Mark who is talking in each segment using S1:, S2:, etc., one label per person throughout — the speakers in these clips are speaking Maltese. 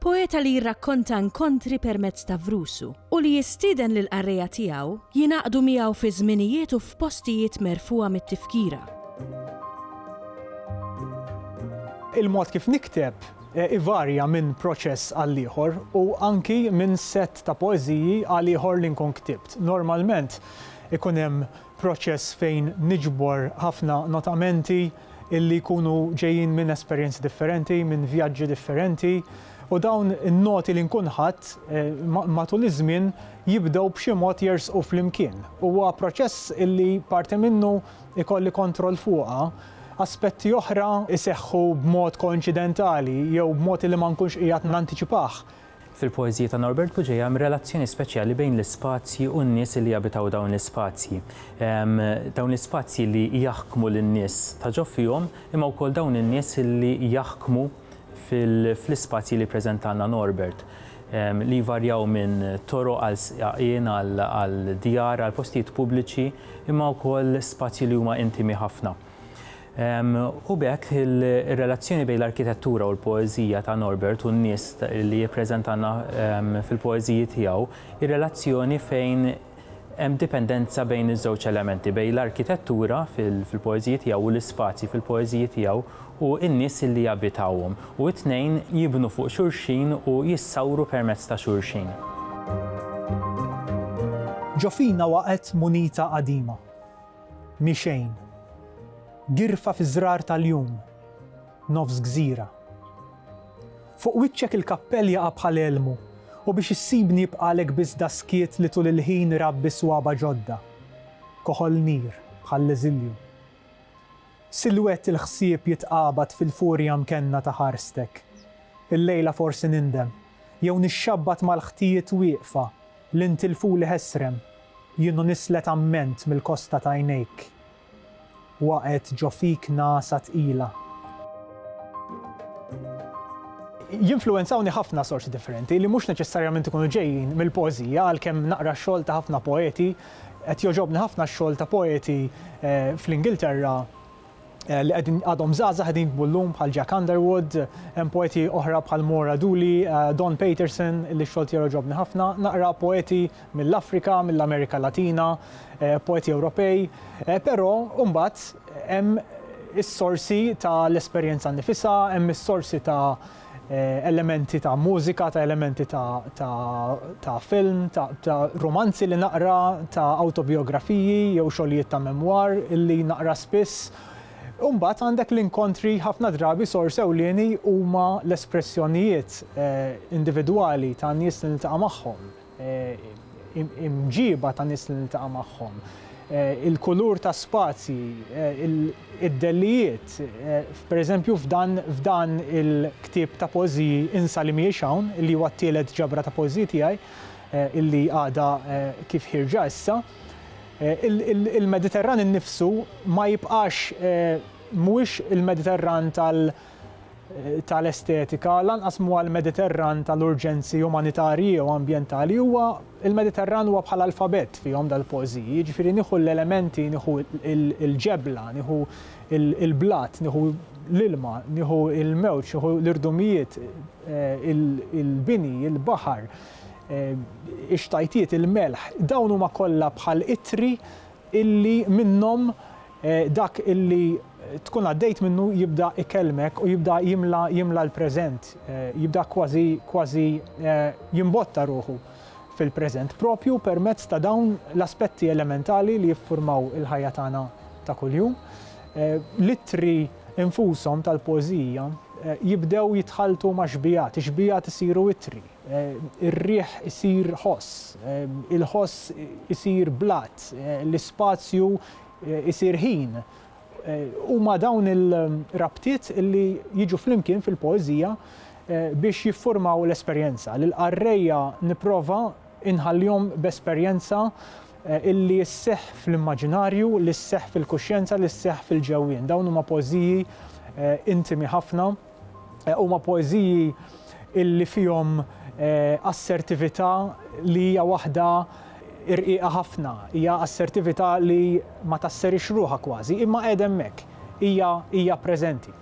S1: Poeta li jirrakkonta inkontri permezz ta' vrusu u li jistieden lill-qarrejja tiegħu jingħaqdu miegħu fi żminijiet u f'postijiet merfugħa mit-tifkira. Il-mod kif nikteb ivarja minn proċess għal ieħor u anki minn sett ta' poeżiji għal ieħor li nkun ktibt. Normalment ikun hemm proċess fejn niġbor ħafna notamenti illi jkunu ġejjin minn esperjenzi differenti, minn vjaġġi differenti, u dawn in-noti li nkun ħadt matul iż-żmien jibdew b'xi mod jersqu flimkien. Huwa proċess illi parti minnu jkolli kontroll fuqha, aspetti oħra jseħħu b'mod koinċidentali jew b'mod illi ma nkunx qiegħed nantiċipah, Fil-poeżiji ta' Norbert Buġeja hemm relazzjoni speċjali bejn l-ispazji u n-nies li jabitaw dawn l-ispazji. Dawn l-ispazji li jaħkmu lin-nies ta' ġo fihom imma wkoll dawn in-nies li jaħkmu fl-ispazji li jippreżentalna Norbert li jvarjaw minn toroq għal sqaqien għal djar għal postijiet pubbliċi imma wkoll spazji li huma intimi ħafna. U b'hekk ir-relazzjoni bejn l-arkitettura u l-poeżija ta' Norbert u n-nies li jippreżentalna fil-poeżiji tiegħu hi relazzjoni fejn hemm dipendenza bejn iż-żewġ elementi, bejn l-arkitettura fil-poeżiji tiegħu u l-ispazji fil-poeżiji tiegħu u n-nies li jabitawhom, u t-tnejn jibnu fuq xulxin u jissawru permezz ta' xulxin. Ġo fina waqgħet munita qadima. Mhi xejn. Girfa fiż-żrar tal-jum. Nofs gżira. Fuq wiċċek il-kappell jaqa' bħal elmu u biex issibni jibqagħlek biss daskiet li tul il-ħin irabbi swaba' ġodda. Koħol nir, bħall-eżilju. Silwett il-ħsieb jitqabad fil-furja mkenna ta' ħarstek. Illejla forsi nindem, jew nixxabbat mal-ħtijiet wieqfa Li ntilfuli ħesrem, jien u nislet amment mill-kosta t'għajnejk. Waqgħet ġo fik ngħasa tqila. Jinfluwenzawni ħafna sorsi differenti li mhux neċessarjament ikunu ġejjin mill-poeżija għalkemm naqra x-xogħol ta' ħafna poeti. Qed jogħġobni ħafna x-xogħol ta' poeti fl-Ingilterra. li qegħdin għadhom żgħażagħ qegħdin jiktbu llum bħal Jack Underwood, hemm poeti oħra bħal Maura Dooley, Don Paterson li x-xogħol tiegħu jogħġobni ħafna, naqra poeti mill-Afrika, mill-Amerika Latina, poeti Ewropej. Però mbagħad hemm is-sorsi tal-esperjenza nnifisha, hemm is-sorsi ta' elementi ta' mużika, ta' elementi ta', ta', ta' film, ta', ta' rumanzi li naqra, ta' awtobijografiji jew xogħlijiet ta' memwar illi naqra spiss. U mbagħad għandek l-inkontri ħafna drabi sors ewlieni huma l-espressjonijiet individwali ta' nies li niltaqa' magħhom. imġiba ta' nies li niltaqa' magħhom, il-kulur ta' spazji, id-dellijiet. Pereżempju f'dan il-ktieb ta' poeżiji Insa li mhijiex hawn, li huwa t-tielet ġabra ta' poeżiji tiegħi, illi għadha kif ħierġa issa, il-Mediterran innifsu ma jibqax, mhuwiex il-Mediterran tal-estetika, lanqas mhuwa l-Mediterran tal-urġenzi umanitarji jew ambjentali, huwa il-Mediterran huwa bħal alfabett fihom dal-poeżiji, jiġifieri nieħu l-elementi, nieħu l-ġebla, nieħu l-blat, nieħu l-ilma, nieħu l-mewġ, nieħu l-irdumijiet, eh, il-bini, il-baħar, eh, ix-xtajtiet, il-melħ, dawn huma kollha bħal itri illi minnhom Dak li tkun għaddejt minnu jibda ikellmek u jibda jimla jimla l-preżent, jibda kważi kważi jimbotta ruħu fil-preżent proprju permezz ta' dawn l-aspetti elementali li jiffurmaw il-ħajja tagħna ta' kuljum. L-ittri infushom tal-poeżija jibdew jitħalltu ma' xbigħat, ix-xbigħat isiru ittri, ir-riħ isir ħoss, il-ħoss isir blat, l-ispazju eh, isir ħin. Eh, huma dawn il-rabtiet li jiġu flimkien fil-poeżija eh, biex jiffurmaw l-esperjenza. L-qarrejja niprofa inħallihom b'esperjenza illi sseħħ fl-immaġinarju, li sseħħ fil-kuxjenza, li sseħħ fil-ġewwien. Dawn huma pożiji intimi ħafna Huma poeżiji li fihom assertività li hija waħda rqiqa ħafna, hija assertività li ma tasserix ruħha kważi, imma qiegħda hemmhekk, hija hija preżenti.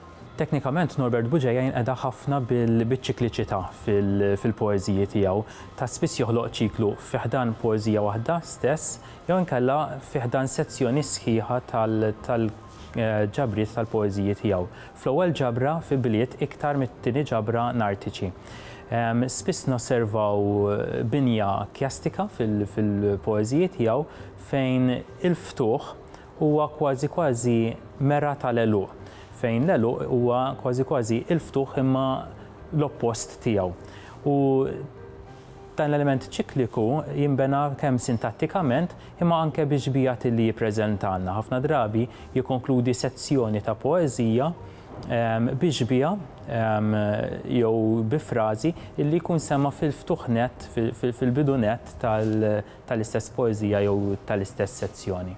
S1: Teknikament Norbert Bugeja jinqeda ħafna bil-biċikliċità fil-poeżiji tiegħu. Ta' spiss joħloq ċiklu fi ħdan poeżija waħda stess jew inkella fi ħdan sezzjoni sħiħa tal-, ġabriet tal-poeżiji tiegħu, fl-ewwel ġabra fi bliet iktar mit-tieni ġabra nartiċi. Spiss nosservaw binja kjastika fil-poeżiji tiegħu fejn il-ftuħ huwa kważi kważi mera tal-għeluq, fejn l-għeluq huwa kważi kważi il-ftuħ imma l-oppost tiegħu. U. Dan l-element ċikliku jinbena kemm sintattikament imma anke bix-xbiehat li jippreżentalna. Ħafna drabi jikkonkludi sezzjoni ta' poeżija bi xbieha jew bi frażi li jkun sema' fil-ftuħ nett, fil-bidu nett tal-istess poeżija jew tal-istess sezzjoni.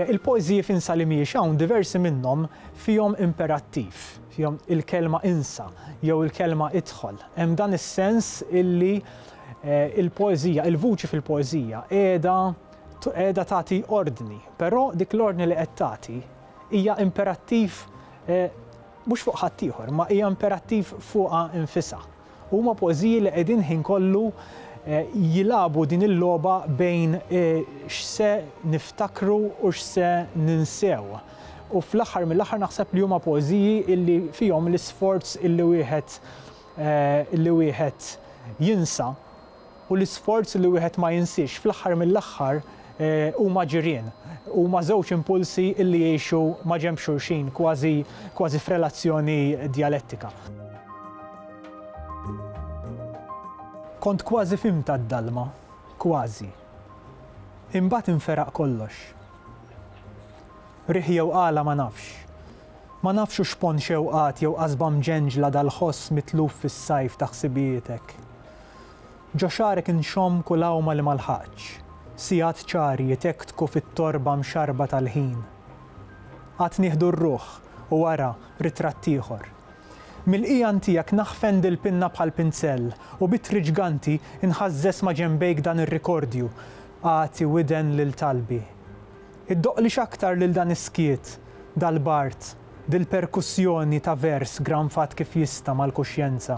S1: Il-poeżiji f'Insa li mhijiex hawn diversi minnhom fihom imperattiv. fihom il-kelma insa jew il-kelma idħol. Hemm dan is-sens illi l-poeżija, il-vuċi fil-poeżija qiegħda qiegħda tagħti ordni, però dik l-ordni li qed tagħti hija imperattiv mhux fuq ħaddieħor, imma hija imperattiv fuqha nfisha. Huma poeżiji li qegħdin ħin kollu jilagħbu din il-logħba bejn x'se niftakru u x'se ninsew. U fl-aħħar mill-aħħar naħseb li huma poeżiji illi fihom l-isforz illi wieħed illi wieħed jinsa. u l-isforz li wieħed ma jinsiex, fl-aħħar mill-aħħar huma ġirien, huma żewġ impulsi li jgħixu maġenb xulxin, kważi kważi f'relazzjoni djalettika. Kont kważi fhimtha d-dalma, kważi. Imbagħad inferaq kollox. Riħ jew għala ma nafx. Ma nafx u x'pon xewqat jew qasba mġenġla dal-ħoss mitluf fis-sajf ta' ħsibijitek. Ġo xagħrek inxomm kull għawma li ma lħaqtx, sigħat ċari jitektku fit-torba mxarrba tal-ħin. Għad nieħdu r-ruħ u wara ritratt ieħor. Mill-qigħan tiegħek naħfen dil-pinna bħal pinzell u b'ittri ġganti nħażżeż ma' ġenbejk dan ir-rikordju, Agħti widen lil talbi. Iddoqqli x'aktar lil dan is-skiet, dal-bard, dil-perkussjoni ta' vers granfat kif jista' mal-kuxjenza.